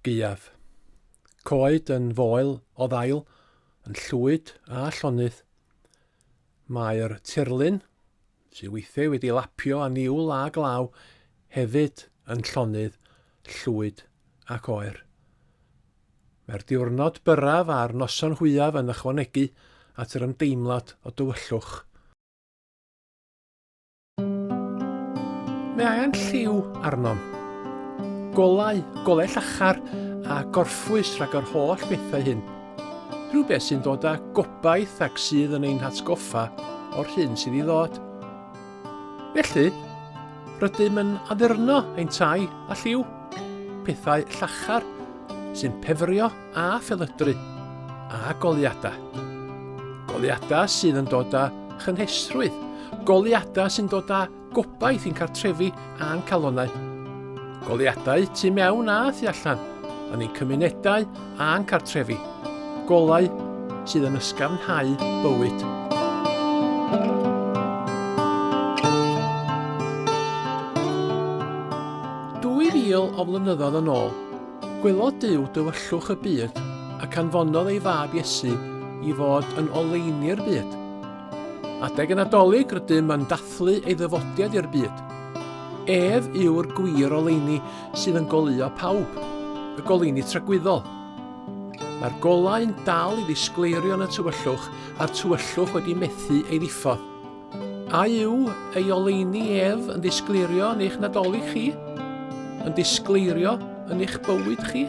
gaeaf. Coed yn foel o ddail, yn llwyd a llonydd. Mae'r tirlun sydd weithiau wedi lapio â niwl a glaw, hefyd yn llonydd, llwyd ac oer. Mae'r diwrnod byrraf a'r noson hwyaf yn ychwanegu at yr ymdeimlad o dywyllwch. Mae angen lliw arnom. Golau, golau llachar a gorffwys rhag yr holl bethau hyn. Rhywbeth sy'n dod â gobaith ac sydd yn ein hatgoffa o'r hyn sydd i ddod. Felly, rydym yn addurno ein tai a lliw, pethau llachar sy'n pefrio a phelydru, a goliadau. Goliadau sydd yn dod â chynhesrwydd, goliadau sy'n dod â Gobaith i'n cartrefi a'n calonnau. Goliadau tu mewn a thu allan, yn ein cymunedau a'n cartrefi. Golau sydd yn ysgafnhau bywyd. Dwy fil o flynyddoedd yn ôl, gwelodd Duw dywyllwch y byd ac anfonodd ei fab Iesu i fod yn oleini'r byd. Adeg y Nadolig rydym yn dathlu ei ddyfodiad i'r byd. Ef yw'r gwir oleuni sydd yn goleuo pawb, y goleuni tragwyddol. Mae'r golau yn dal i ddisgleirio yn y tywyllwch a'r tywyllwch wedi methu ei ddiffodd. A yw ei oleuni ef yn ddisgleirio yn eich nadolig chi? Yn disgleirio yn eich bywyd chi?